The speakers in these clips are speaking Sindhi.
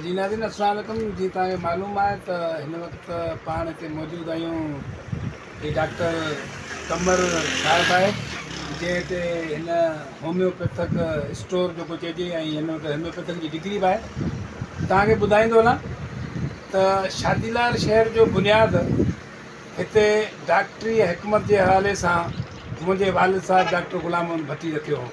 جي ناظرين السلام عليڪم جي توهان کي معلوم آهي ته هن وقت پاڻ هتي موجود آهيون هي ڊاڪٽر قمر صاحب آهي جنهن هتي هن هوميوپيٿڪ اسٽور جيڪو چئجي ۽ هن وٽ هوميوپيٿڪ جي ڊگري به آهي توهان کي ٻڌائيندو هلاں ته شادي لال شهر جو بنياد هتي ڊاڪٽري حڪمت جي حوالي سان منهنجي والد صاحب ڊاڪٽر غلام محمد ڀٽي رکيو هو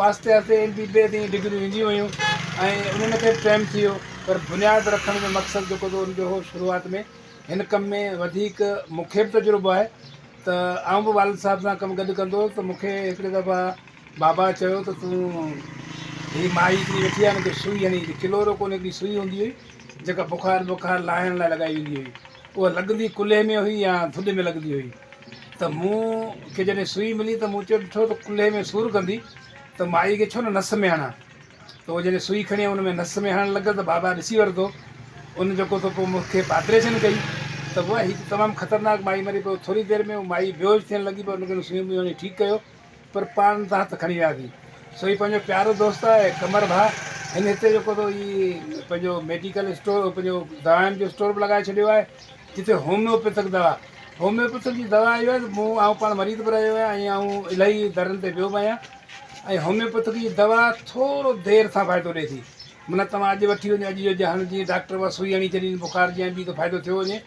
آهستي آهستي ايم بي بي تائين ڊگريون اينديون ويون ۽ انهن کي به ٽائيم ٿي ويو پر بنياد رکڻ جو مقصد جيڪو هو ان جو هو شروعات ۾ هن ڪم ۾ وڌيڪ مونکي به تجربو آهي ته آئون به والد صاحب سان ڪم گڏ ڪندو هوس ته مونکي هڪڙي دفعا بابا چيو ته تون هي مائي هڪڙي ويٺي آهي هن کي سوئي هڻي ڏي ڪلورو ڪون هڪڙي سوئي هوندي هئي جيڪا بخار وخار لاهڻ لاء لڳائي ويندي هئي اها لڳندي ڪلهي ۾ هئي يا ٿڏ ۾ لڳندي هئي ته مون کي جڏهن سوئي ملي ته مون چيو ڏٺو ته ڪلهي ۾ سور ڪندي ته مائي کي ڇو نه نس ۾ هڻان ته اهو جڏهن سوئي کڻي ان ۾ نس ۾ هڻڻ لڳل ته بابا ڏسي ورتو ان جيڪو ته پوء مون کي پاپريشن ڪئي ته بابا هي ته تمام خطرناڪ مائي مري پوء ٿوري دير ۾ مائي بيهوش ٿيڻ لڳي پوء ان کي سوئي ملي ٺيڪ ڪيو پر پاڻ تان هٿ کڻي وياسين سو هي پنهنجو پيارو دوست آهي قمر ڀاء هن هتي جيڪو اٿو هي پنهنجو ميڊيڪل اسٽور پنهنجو دوائن جو اسٽور به لڳائي ڇڏيو آهي جتي هوميوپيٿڪ دوا هوميوپيٿڪ جي دوا اهو آهي ته مون آئون پاڻ مريض به رهيو آهيان ۽ آئون الاهي درن تي ويو به آهيان ۽ هوميوپيٿڪ جي دوا ٿورو دير سان فائدو ڏئي ٿي منا توهان اڄ وٺي وڃو اڄ جو جهان جي ڊاڪٽر بس سوئي هڻي ڇڏين بخار جي ۽ ٻي ته فائدو ٿيو وڃي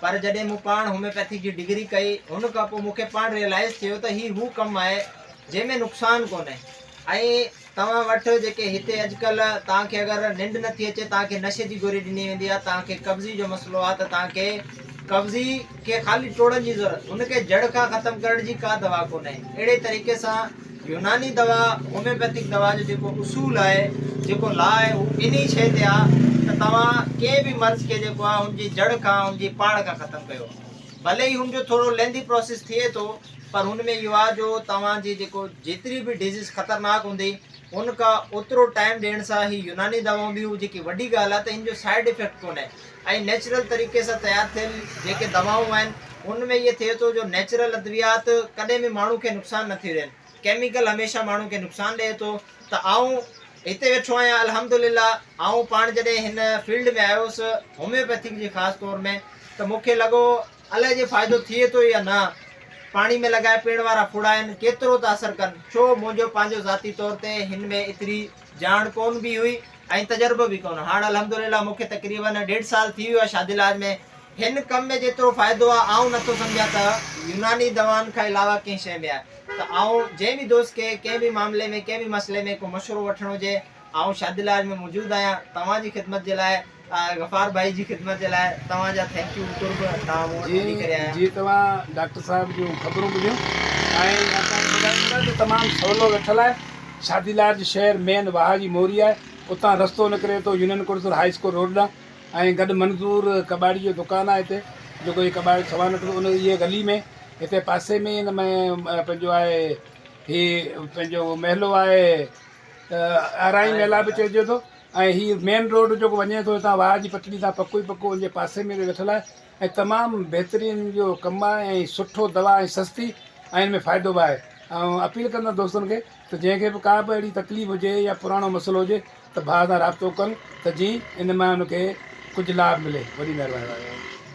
پر جڏهن مون پاڻ هوميوپيٿي جي ڊگري ڪئي ان کان پوء مون کي پاڻ ريئلائز ٿيو ته هي هو ڪم آهي جنهن ۾ نقصان ڪونهي ۽ توهان وٽ جيڪي هتي اڄڪلهه توهان کي اگر ننڊ نٿي اچي توهان کي نشي جي گوري ڏني ويندي آهي توهان کي قبضي جو مسئلو آهي ته توهان کي قبضي کي خالي ٽوڙڻ جي ضرورت ان کي جڙ کان ختم ڪرڻ جي ڪا دوا ڪونهي اهڙي طريقي سان يوناني دوا، هوميوپيٿڪ دوا جو جيڪو اصول آهي، جيڪو لا آهي هو انهي شيء تي آهي ته توهان ڪنهن به مرض کي جيڪو آهي هن جي جڙ کان، هن جي پاڙ کان ختم ڪيو. ڀلي ئي هن جو ٿورو لينڌي پراسيس ٿئي ٿو پر هن ۾ اهو آهي جو توهان جي جيڪو جيتري به ڊزيز خطرناڪ هوندي هن کان اوترو ٽائيم ڏيڻ سان هي يوناني دوائون به هو جيڪي وڏي ڳالهه آهي ته هن جو سائيڊ افيڪٽ ڪونهي ۽ نيچرل طريقي سان تيار ٿيل جيڪي دوائون آهن ان ۾ اهي ٿئي ٿو جو نيچرل ادويات ڪڏهن به ماڻهو کي نقصان نه ٿيون ڏين ڪيميڪل هميشه ماڻهو کي نقصان ڏئي ٿو ته آئون هتي ويٺو آهيان الحمدلله آئون پاڻ جڏهن هن فيلڊ ۾ آيو هوس هوميوپيٿڪ جي خاص طور ۾ ته مون کي لڳو الاء جي فائدو ٿئي ٿو يا نه پاڻي ۾ لڳائي پيئڻ وارا ڦڙا آهن ڪيترو ٿا اثر ڪن ڇو منهنجو پنهنجو ذاتي طور تي هن ۾ ايتري ڄاڻ ڪون به هئي ۽ تجربو به ڪون. هاڻ الحمدلله مون کي تقريباً ڏيڍ سال ٿي ويو آهي شادي لاج ۾. هن ڪم ۾ جيترو فائدو آهي آئون نه ٿو سمجهان ته يوناني دوائن کان علاوه ڪنهن شيء ۾ آهي. ته آئون جنهن به دوست کي ڪنهن به معاملي ۾ ڪنهن به مسئلي ۾ ڪو مشورو وٺڻو هجي آئون شادي لاج ۾ موجود آهيان توهان جي خدمت جي لاء. غفار ڀائي جي خدمت جي لاء توهان جا ٿينڪيو قرب توهان مون وٽ وڃي ڪري آيا. جي توهان ڊاڪٽر صاحب جون خبرون ٻڌيون ۽ اسان کي ٻڌايو ته تمام سولو ويٺل آهي شادي لارج شهر مين واهه جي موري آهي اتان رستو نڪري ٿو يونين ڪڙسر هائي اسڪول روڊ ڏانهن ۽ گڏ منظور ڪٻاڙي جو دڪان آهي هتي جيڪو هي ڪٻاڙي سوان وٽ ان اهي ڳلي ۾ هتي پاسي ۾ ان ۾ پنهنجو آهي هي پنهنجو محلو آهي ارائين محلا به چئجي ٿو. ۽ هي مين روڊ جيڪو وڃي ٿو هتان واهه جي پٽڙي تان پڪو ئي پڪو ان جي پاسي ۾ ويٺل آهي ۽ تمام بهترين جو ڪم آهي ۽ سٺو دوا ۽ سستي ۽ ان ۾ فائدو به آهي ۽ اپيل ڪندو دوستن کي ته جنهن کي به ڪا به اهڙي تڪليف هجي يا پراڻو مسئلو هجي ته ڀاء سان رابطو ڪن ته جي ان مان ان کي ڪجهه لاڀ ملي وڏي مهرباني